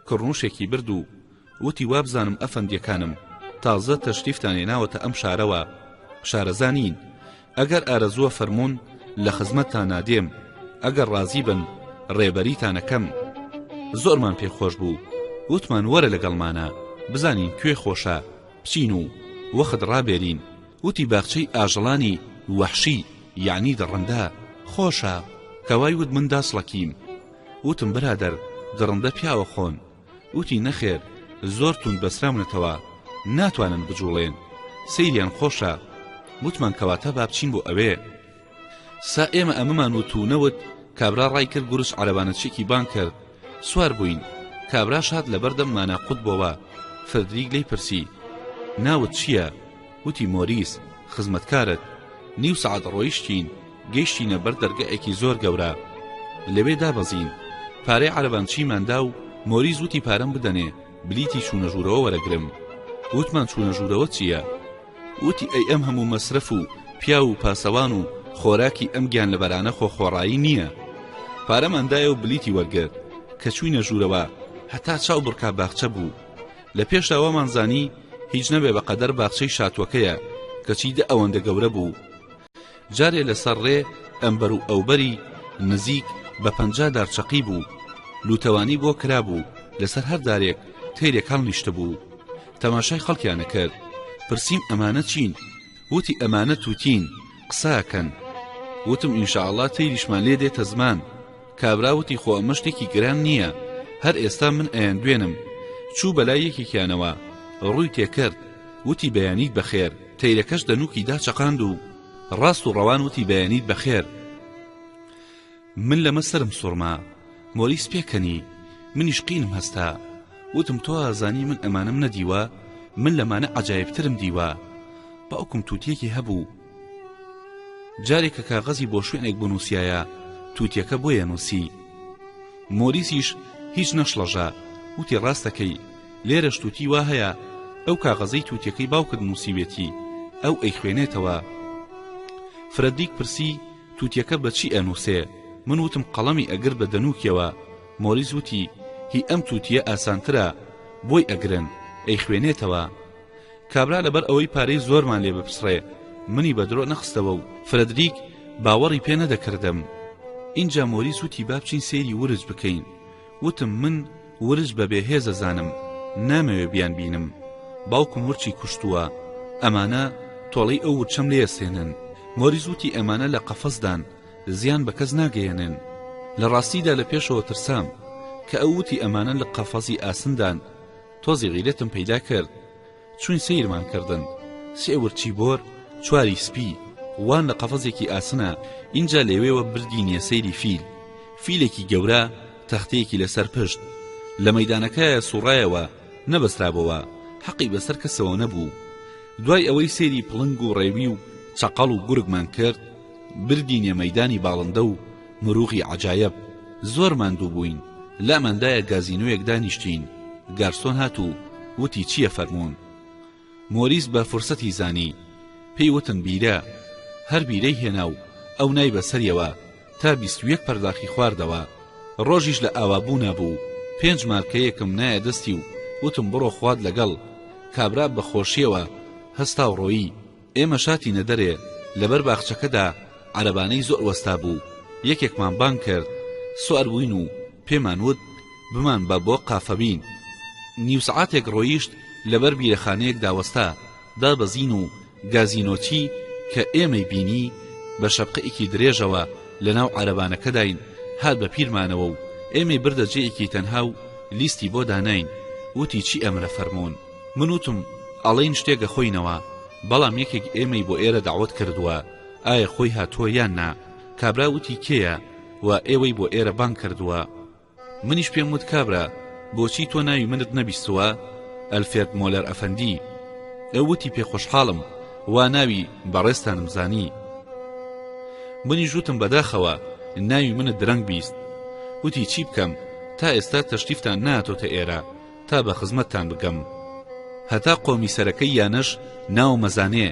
کڕنوشێکی برد و وتی وابزانم ئەفەندیەکانم تازە تەشریفتان هێناوەتە ئەم شارەوە شارەزا نین ئەگەر ئارەزووە فەرموون لە خزمەتتان نادێم ئەگەر ڕازی بن ڕێبەریتانەکەم زۆرمان پێ خۆش بوو وتمان وەرە لەگەڵمانە بزانین کوێ خۆشە بچین و وەخت ڕابێرین وتی باخچەی ئاژەڵانی وەحشی یعنی دڕندە خۆشە کەوای وت من داسڵەکیم وتم برادەر دڕندە پیاوە خۆن وتی نەخێر زۆر توند بەسراونەتەوە ناتوانن بجوڵێن سەیریان خۆشە وتمان کەواتە با بچین بۆ ئەوێ سا ئێمە ئەمەمان وت و نەوت کابرا ڕای کرد گورس عەرەبانەچێکی بان کرد سوار بووین کابراش هات لەبەردەم مانا قوت بۆوە فردریک لی پرسی ناوت چییە؟ وتی مۆریس خزمەتکارت نیو سەعات ڕۆیشتین گەیشتینە بەر دەرگایەکی زۆر گەورە لەوێ دابەزین پارەی عەرەبانچیمان دا و مۆریس وتی پارەم بدەنێ بلیتی چوونە ژوورەوە وەرەگرم وتمان چوونە ژوورەوە چییە وتی ئەی ئەم هەموو مەسرەف و پیاو و پاسەوان و خۆراکی ئەم گیان لەبەرانە خۆ خۆڕایی نییە پارەماندایە و بلیتی وەرگرت کە چوینە ژوورەوە هەتا چاو بڕکا باخچە بوو لە پێشدا وامان زانی هیچ نەبێ بە قەدەر باخچەی شاتوەکەیە کەچی دە ئەوەندە گەورە بوو جارێ لەسەر ڕێ ئەمبەر و ئەوبەری نزیک بە پەنجا دارچەقی بوو لوتەوانی بۆ کرابوو لەسەر هەر دارێک تەیرێک هەڵنیشت بوو تەماشای خەڵکیانە کرد پرسییم ئەمانە چین وتی ئەمانە تووتین قساکەن وتم ئینشاءله تەیریشمان لێ دێتە زمان کابرا وتی خۆ ئەمە شتێکی گران نییە هەر ئێستا من ئەیاندوێنم چوو بەلای یەکێکیانەوە ڕووی تێکرد وتی بەیانیت بەخێر تەیرەکەش دەنووکی دا چەقاند و ڕاست و ڕەوان وتی بەیانیت بەخێر من لەمە سرم سوڕما مۆریس پێکەنی منیش قینم هەستا وتم تۆ ئازانی من ئەمانم نەدیوە من لەمانە عجایبترم دیوە باوکم تووتێکی هەبوو جارێ کە کاغەزی بۆ شوێنێک بنووسیایە تووتیەکە بۆیە نووسی مۆریسیش هیچ نەشڵەژە وتی ڕاستەکەی لێرەش تووتی وا هەیە ئەو کاغەزەی تووتیەکەی باوکت نووسیوێتی ئەو ئەی خوێنێتەوە فرەدیک پرسی تووتیەکە بەچی ئەنووسێ من وتم قەڵەمی ئەگر بە دەنووکیەوە مۆریس وتی هی ئەم تووتیە ئاسانترە بۆی ئەگرن ئەی خوێنێتەوە کابرا لەبەر ئەوەی پارەی زۆرمان لێ بپسڕێ منی بە درۆ نەخستەوە و فرەدریک باوەڕی پێ نەدەکردم ئینجا مۆریس وتی با بچین سەیری ورج بکەین وتم من ورج بە بێهێزەزانم نامەوێ بیان بینم باوکم ورچی کوشتووە ئەمانە تۆڵەی ئەو ورچەم لێ سێنن مۆریس وتی ئەمانە لە قەفەزدان زیان بە کەس ناگەیەنن لە ڕاستیدا لە پێشەوە ترسام کە ئەو وتی ئەمانە لە قەفەزی ئاسندان تۆزی غیرەتم پەیدا کرد چوین سەیرمان کردن سێ ورچی بۆر چواری سپی وان لە قەفەزێکی ئاسنا ئینجا لەوێوە بردینیە سەیری فیل فیلێکی گەورە تەختەیەکی لەسەر پشت لە مەدانەکەیە سوڕایەوە نەبەسترابەوە حەقی بەسەر کەسەوە نەبوو دوای ئەوەی سێری پڵنگ و ڕێوی و چەقەڵ و گورگمان کرد بردینە مەدانی باڵندە و مروغی عەجایەب، زۆر ماندوو بووین، لاماندایە گازینۆیەک دانیشتین، گارسۆن هات و وتی چییە فەرموون. مۆریس بە فرسەتی زانی، پێی وتن بیرە، هەر بیرەی هێنا و ئەو نای بە سەریەوە تا بیست و یەک پەرداخی خواردەوە، ڕۆژیش لە ئاوا بوونا بوو، پێنج مارکەیەکم نایە دەستی و وتم بڕۆ خوات لەگەڵ، کابرا بە خۆشییەوە هەستا و ڕۆیی. ئێمە شاتینە دەرێ، لەبەر باخچەکەدا عەرەبانەی زۆر وەستابوو، یەکێکمان بانگ کرد، سوار بووین و پێمان وت بمانبە بۆ قافەبین. نیو سەعاتێک ڕۆیشت، لەبەر بیرەخانەیەکدا وەستا، دابەزین و گازینۆچی کە ئێمەی بینی، بە شەپقەیەکی درێژەوە لەناو عەرەبانەکەداین، هات بە پیرمانەوە و ئێمەی بردە جێیەکی تەنها و لیستی بۆ داناین، وتی چی ئەمرە فەرموون. من وتم، ئەڵێن شتێک ئەخۆینەوە، بەڵام یەکێک ئێمەی بۆ ئێرە دەعوەت کردووە، ئایا خۆی هاتووە یان نا؟ کابرا وتی کێیە؟ و ئێوەی بۆ ئێرە بانگ کردووە؟ منیش پێم وت کابرا بۆچی تۆ ناوی منت نەبیستووە؟ ئەلفێرد مۆلەر ئەفەندی. ئەو وتی پێ خۆشحاڵم وا ناوی بەڕێزتانم زانی. منیش وتم بەداخەوە ناوی منت درەنگ بیست. وتی چی بکەم تا ئێستا تەشریفتان نەهاتۆتە ئێرە، تا بە خزمەتتان بگەم هەتا قۆمی سەرەکەی یانەش ناو مەزانێ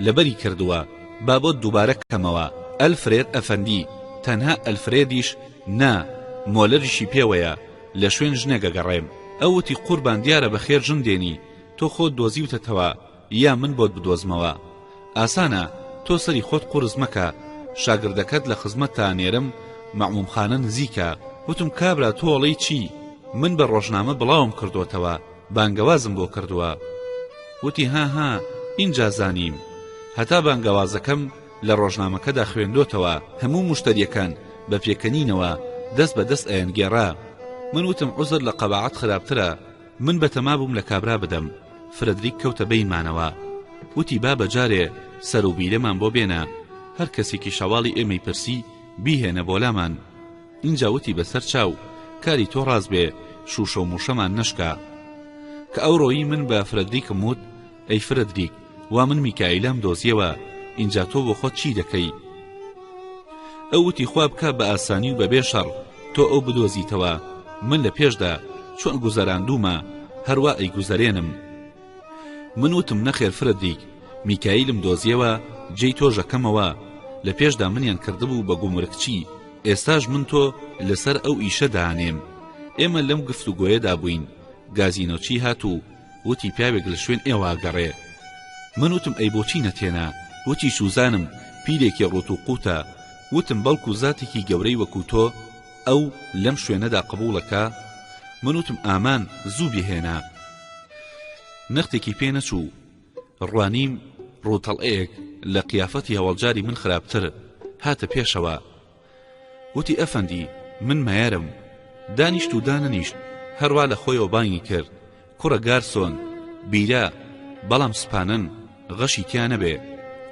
لەبەری کردووە با بۆت دووبارە کەمەوە ئەلفرێد ئەفەندی تەنها ئەلفرێدیش نا مۆلەریشی پێوەیە لە شوێن ژنێک ئەگەڕێم ئەو وتی قوربان دیارە بەخێر ژن دێنی تۆ خۆت دۆزیوتەتەوە یا من بۆت بدۆزمەوە ئاسانە تۆ سەری خۆت قورس مەکە شاگردەکەت لە خزمەتتا نێرم مەعموم خانە نزیکە وتم کابرا تۆ ئەڵێی چی من بە ڕۆژنامە بڵاوم کردۆتەوە بانگەوازم بۆ کردووە وتی هاها ئینجا زانیم هەتا بانگەوازەکەم لە ڕۆژنامەکەدا خوێندۆتەوە هەموو مشتەریەکان بە پێکەنینەوە دەست بە دەست ئەیان گێڕا من وتم عوزر لە قەباعەت خراپترە من بەتەما بووم لە کابرا بدەم فرەدریک کەوتە بەینمانەوە وتی با بە جارێ سەر و بیرەمان بۆ بێنە هەر کەسێکیش هەواڵی ئێمەی پرسی بیهێنە بۆ لامان ئینجا وتی بەسەر چاو کاری تۆ ڕاست بێ شووشە و مووشەمان نەشکا کە ئەوڕۆیی من بە فرەدریکم وت ئەی فرەدریک وا من میکایلام دۆزیەوە ئینجا تۆ بۆ خۆت چی دەکەی ئەو وتی خوا بکا بە ئاسانی و بەبێ شەڕ تۆ ئەو بدۆزیتەوە من لە پێشدا چۆن گوزەراندومە هەروا ئەیگوزەرێنم من وتم نەخێر فرەدریک میکایلم دۆزیەوە جێی تۆژەکەمەوە لە پێشدا منیان کردبوو بە گومرکچی ئێستاش من تۆ لەسەر ئەو ئیشە دانێم ئێمە لەم گفتوگۆیەدا بووین گازینۆچی هات و وتی پیاوێک لە شوێن ئێوە ئەگەڕێ من وتم ئەی بۆچی نەتێنا وتی سوزانم پیرێکی ڕوت و قوتە وتم بەڵکو زاتێکی گەورەی وەکو تۆ ئەو لەم شوێنەدا قبوڵەکا من وتم ئامان زوو بهێنە نەختێکی پێ نەچوو ڕوانیم ڕوتەڵەیەک لە قیافەتی هەواڵجاری من خراپتر هاتە پێشەوە وتی ئەفەندی من مەیەرم دانیشت و دانەنیشت هەروا لە خۆیەوە بانگی کرد کوڕە گارسۆن بیرە بەڵام سپانن غەشی تیا نەبێ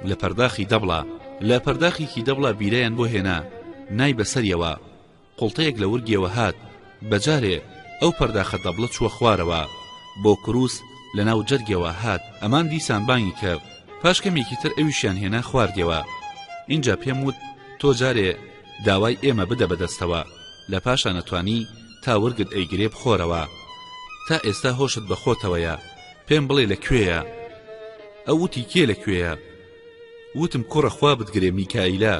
لە پەرداخی دەبڵە لە پەرداخێکی دەبڵە بیرەیان بۆ هێنا نای بەسەریەوە قوڵتەیەک لە ورگیەوە هات بەجارێ ئەو پەرداخە دەبڵە چووە خوارەوە بۆ کرووس لە ناو جەرگەوە هات ئەمان دیسان بانگی کرد پاش کەمێکی تر ئەویشیان هێنا خواردەوە ئینجا پێم وت تۆ جارێ داوای ئێمە بدە بەدەستەوە لە پاشا نەتوانی تا ورگت ئەیگرێ بخۆرەوە تا ئێستا هۆشت بەخۆتەوەیە پێم بڵێ لە کوێیە ئەو وتی کێ لە کوێیە وتم کوڕە خوا بتگرێ میکایلا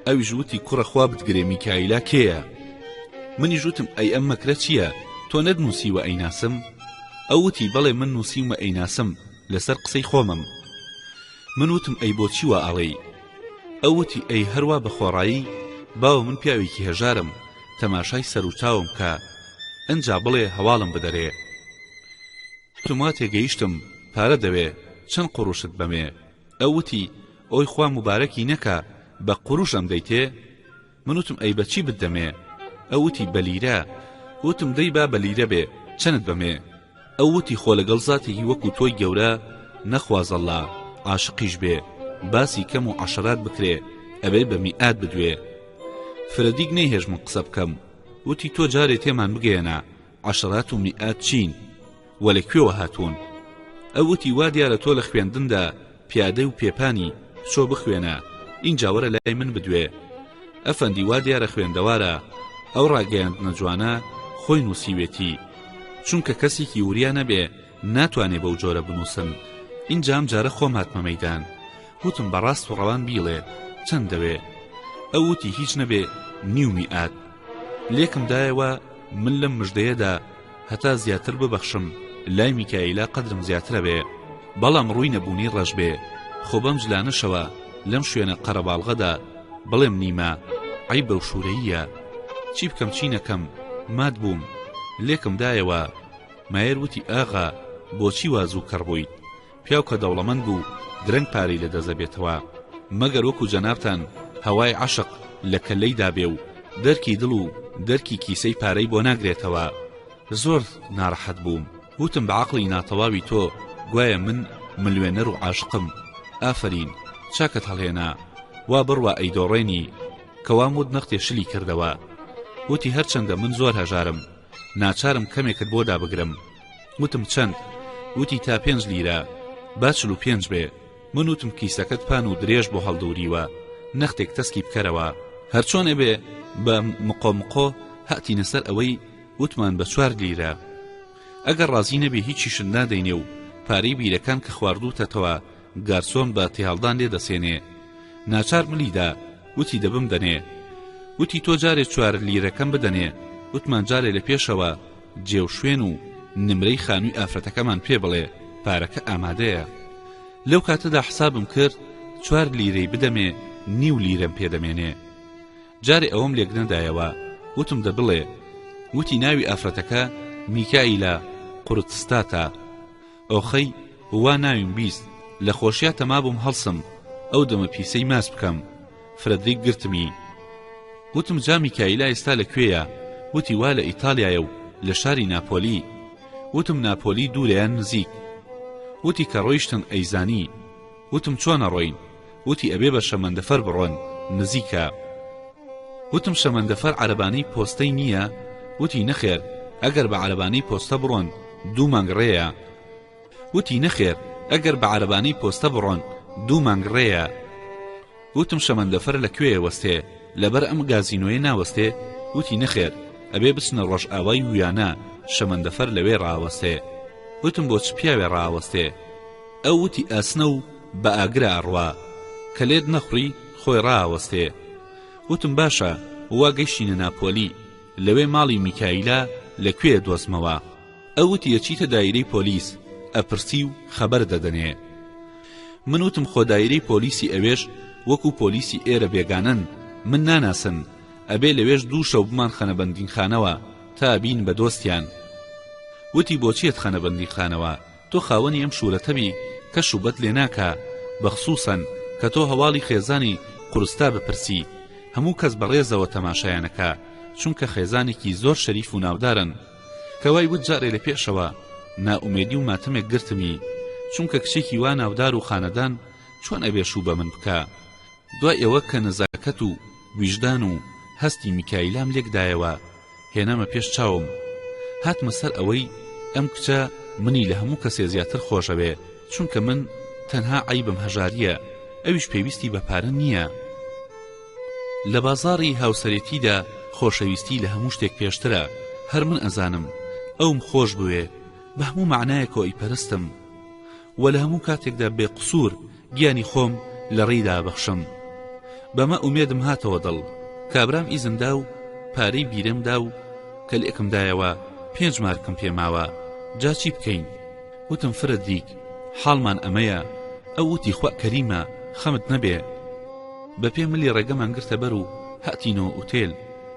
ئەویش وتی کوڕە خوا بتگرێ میکایلا کێیە منیش وتم ئەی ئەم مەکرە چییە تۆ نەت نووسیوە ئەیناسم ئەو وتی بەڵێ من نووسیومە ئەیناسم لەسەر قسەی خۆمم من وتم ئەی بۆ چیوە ئاڵێی ئەو وتی ئەی هەروە بە خۆڕایی باو من پیاوێکی هەژارم تەماشای سەر و چاوم کە ئەجا بڵێ هەواڵم بدەرێ وتم وا تێگەیشتم پارە دەوێ چەند قوروشت بەمێ ئەو وتی ئۆی خوا موبارەکی نەکا بە قوروش ئەمدەیتێ من وتم ئەی بەچی بتدەمێ ئەو وتی بە لیرە وتم دەی با بە لیرە بێ چەنت بەمێ ئەو وتی خۆ لەگەڵ زاتێکی وەکو تۆی گەورە نەخوازەڵا عاشقیش بێ باسی کەم و عەشرات بکرێ ئەبێ بە میئات بدوێ فرەدیگ نەیهێشت من قسە بکەم وتی تۆ جارێ تێمان بگەیەنە عەشرات و میئات چین و لە کوێوە هاتوون ئەو وتی وا دیارە تۆ لە خوێندندا پیادەی و پێپانی چۆ بخوێنە ئینجا وەرە لای من بدوێ ئەفەندی وا دیارە خوێندەوارە ئەو ڕاگەیاندنە جوانە خۆی نووسیوێتی چونکە کەسێکی وریا نەبێ ناتوانێ بەو جۆرە بنووسم ئینجا ئەم جارە خۆم هاتمە مەیدان وتم بە ڕاست و ڕەوان بیڵێ چەند دەوێ ئەو وتی هیچ نەبێ نیو میئات لێکم دایەوە من لەم مژدەیەدا هەتا زیاتر ببەخشم لای میکایلا قەدرم زیاترە بێ بەڵام ڕووی نەبوونی ڕەش بێ خۆ بەم جلانەشەوە لەم شوێنە قەرەباڵغەدا بڵێم نیمە ئەی بەو شوورەیە چی بکەم چی نەکەم مات بووم لێکم دایەوە مایەر وتی ئاغا بۆچی وا زوو کەڕ بوویت پیاو کە دەوڵەمەند بوو درەنگ پارەی لە دەست دەبێتەوە مەگەر وەکو جەنابتان هەوای عەشق لە کەللەی دابێ و دەرکی دڵ و دەرکی کیسەی پارەی بۆ ناگرێتەوە زۆر ناڕەحەت بووم وتم بە عەقڵی ناتەواوی تۆ گوایە من ملوێنەر و عاشقم ئافەرین چاکەت هەڵهێنا وا بڕوا ئەیدۆڕێنی کەوام وت نەختێ شلی کردەوە وتی هەرچەندە من زۆر هەژارم ناچارم کەمێکت بۆ دابگرم وتم چەند وتی تا پێنج لیرە با چل و پێنج بێ من وتم کیسەکەت پان و درێژ بۆ هەڵدوریوە نەختێک تەسکی بکەرەوە هەرچۆن ئەبێ بە مقۆ مقۆ هاتینە سەر ئەوەی وتمان بە چوار لیرە ئەگەر ڕازی نەبێ هیچیشت نادەینێ و پارەی بیرەکان کە خواردوتەتەوە گارسۆن بە تێهەڵدان لێ دەسێنێ ناچار ملی دا وتی دەبم دەنێ وتی تۆ جارێ چوار لیرەکەم بدەنێ وتمان جارێ لە پێشەوە جێ و شوێن و نمرەی خانووی ئافرەتەکەمان پێ بڵێ پارەکە ئامادەیە لەو کاتەدا حسابم کرد چوار لیرەی بدەمێ نیو لیرەم پێ دەمێنێ جارێ ئەوەم لێک نەدایەوە وتم دە بڵێ وتی ناوی ئافرەتەکە میکائیلا قورتستاتە ئۆخەی وا ناویم بیست لە خۆشیا تەمابووم هەڵسم ئەو دەمە پیسەی ماچ بکەم فرەدریک گرتمی وتم جا میکایلا ئێستا لە کوێیە وتی وا لە ئیتالیایە و لە شاری ناپۆلی وتم ناپۆلی دوورەیان نزیک وتی کە ڕۆیشتن ئەیزانی وتم چۆن ئەڕۆین؟ وتی ئەبێ بە شەمەندەفەر بڕۆن نزیکە وتم شەمەندەفەر عەرەبانەی پۆستەی نییە؟ وتی نەخێر ئەگەر بە عەرەبانەی پۆستە بڕۆن دوو مانگ ڕێیە وتی نەخێر ئەگەر بە عەرەبانەی پۆستە بڕۆن دوو مانگ ڕێیە وتم شەمەندەفەر لە کوێ وەستێ لەبەر ئەم گازینۆیە ناوەستێ وتی نەخێر ئەبێ بچنە ڕۆژئاوای ویانا شەمەندەفەر لەوێ ڕاوەستێ وتم بۆ چ پیاوێ ڕاوەستێ ئەو وتی ئاسنە و بە ئاگرە ئەڕوا کە لێت نەخڕی خۆی ڕاوەستێ وتم باشە وا گەیشتینە ناپۆلی لەوێ ماڵی میکایلا لە کوێ دۆزمەوە ئەو وتی ئەچیتە دایرەی پۆلیس ئەپرسی و خەبەر دەدەنێ من وتم خۆ دایرەی پۆلیسی ئەوێش وەکو پۆلیسی ئێرە بێگانەن من ناناسن ئەبێ لەوێش دوو شەو بمان خەنە بەندینخانەوە تا بین بە دۆستیان وتی بۆچیت خەنە بەندینخانەوە تۆ خاوەنی ئەم شورەتەبی کەس شوبەت لێ ناکا بەخسوسەن کە تۆ هەواڵی خێزانی قورستا بپرسی هەموو کەس بەڕێزەوە تەماشایان ئەکا چونکە خێزانێکی زۆر شەریف و ناودارن کە وای وت جارێ لە پێشەوە نائومێدی و ماتەمێک گرتمی چونکە کچێکی وا ناودار و خانەدان چۆن ئەبێ شو بەمن بکا دوای ئەوە کە نەزاکەت و ویژدان و هەستی میکایلام لێک دایەوە هێنامە پێش چاوم هاتمە سەر ئەوەی ئەم کچە منی لە هەموو کەسێ زیاتر خۆشەوێ چونکە من تەنها عەیبم هەژاریە ئەویش پێویستی بە پارە نییە لە بازاڕی هاوسەرێتیدا خۆشەویستی لە هەموو شتێک پێشترە هەر من ئەزانم ئەوم خۆش بوێ بە هەموو معنایەکەوە ئەیپەرستم وە لە هەموو کاتێکدا بێ قسوور گیانی خۆم لە ڕێی دا بەخشم بەمە ئومێدم هاتەوە دڵ کابرام ئیزن دا و پارەی بیرەم دا و کە لێکم دایەوە پێنج مارکم پێ ماوە جا چی بکەین وتم فرە دیک حاڵمان ئەمەیە ئەو وتی خوا کەریمە خەمت نەبێ بە پێ ملی ڕێگەمان گرتە بەر و هاتینەوە ئوتێل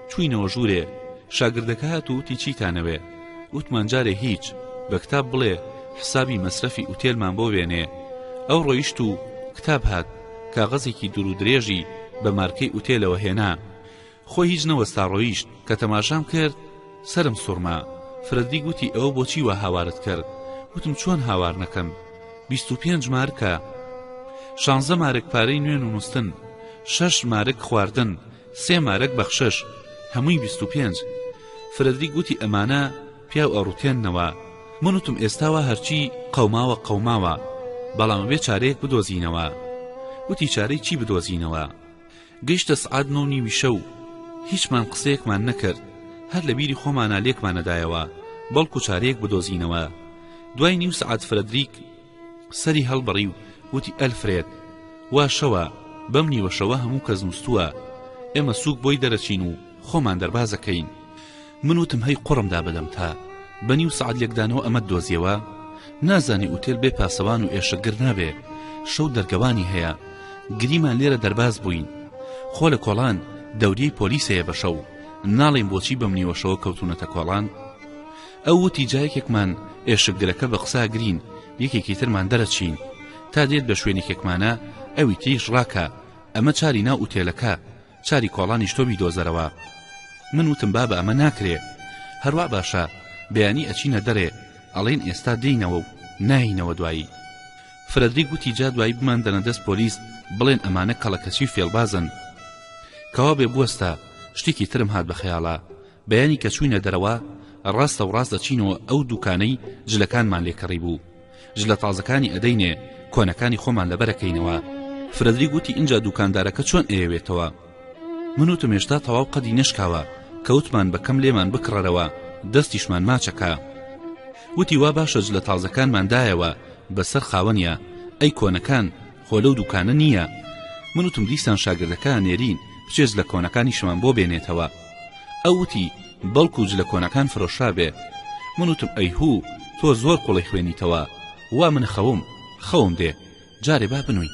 چوینەوە ژوورێ شاگردەکە هات و وتی چیتانەوێ وتمان جارێ هیچ بە کتاب بڵێ حسابی مەسرەفی ئوتێلمان بۆ وێنێ ئەو ڕۆیشت و کتاب هات کاغەزێکی دوور و درێژی بە مارکەی ئوتێلەوە هێنا خۆ هیچ نەوەستا ڕۆیشت کە تەماشام کرد سرم سوڕما فرەدی گوتی ئەوە بۆچی وە هاوارت کرد وتم چۆن هاوار نەکەم بیست و پێنج مارکە شانزە مارک پارەی نوێن و نووسن شەش مارک خواردن سێ مارک بەخشش هەمووی بیست و پێنج فرەدریک وتی ئەمانە پیاو ئەڕوتێننەوە من وتم ئێستا وا هەرچی قەوماوە قەوماوە بەڵام ئەبێ چارەیەک بدۆزینەوە وتی چارەی چی بدۆزینەوە گەیشتە سعات نۆ و نیوی شەو هیچمان قسەیەکمان نەکرد هەر لە بیری خۆمانە لێکمانەدایەوە بەڵکو چارەیەک بدۆزینەوە دوای نیو سعات فرەدریک سەری هەڵبڕی و وتی ئەلفرێد وا شەوە بەم نیوە شەوە هەموو کەس نووسووە ئێمە سوک بۆی دەرەچین و خۆمان دەربازەکەین من وتم هەی قڕمدا بەدەم تا بە نیو سعات لێکدانەوە ئەمە دۆزیەوە نازانی ئوتێل بێ پاسەوان و ئێشەگر نابێ شەو دەرگەوانی هەیە گریمان لێرە دەرباز بووین خۆ لە کۆڵان دەوریەی پۆلیسەیە بە شەو ناڵێن بۆچی بەم نیوەشەوە کەوتونەتە کۆڵان ئەو وتی جا یەکێکمان ئێشکگرەکە بە قسە ئەگرین یەکێکی ترمان دەرەچین تا دێت بە شوێنێکێکمانە ئەوی تریش ڕاکە ئەمە چاری ناو ئوتێلەکە چاری کۆڵانیش تۆ بیدۆزەرەوە من وتم بابە ئەمە ناکرێ هەروە باشە بەیانی ئەچینە دەرێ ئەڵێن ئێستا دێینەوە و ناینەوە دوایی فرەدری گوتی جا دوایی بمان دەنە دەست پۆلیس بڵێن ئەمانە کەڵەکەچی فێڵبازن کەوا بێ بوەستە شتێکی ترم هات بە خەیاڵە بەیانی کە چووینە دەرەوە ڕاستە و ڕاست دەچینەوە ئەو دووکانەی جلەکانمان لێ کڕی بوو جلە تازەکانی ئەدەینێ کۆنەکانی خۆمان لەبەر ئەکەینەوە فرەدریک وتی ئینجا دووکاندارەکە چۆن ئەیەوێتەوە من وتم هێشتا تەواو قەدی نەشکاوە کەوتمان بەکەم لێمان بکڕەرەوە دەستیشمان ماچەکە وتی وا باشە جلە تازەکانمان دایەوە بەسەر خاوەنیا ئەی کۆنەکان خۆ لەو دوکانە نییە من وتم دیسان شاگردەکە نێرین بچێ جلە کۆنەکانیشمان بۆ بێنێتەوە ئەو وتی بەڵکو جلە کۆنەکان فرۆشرابێ من وتم ئەیهوو تۆ زۆر قوڵی خوێنیتەوە وا من خەوم خەوم دێ جارێ با بنوین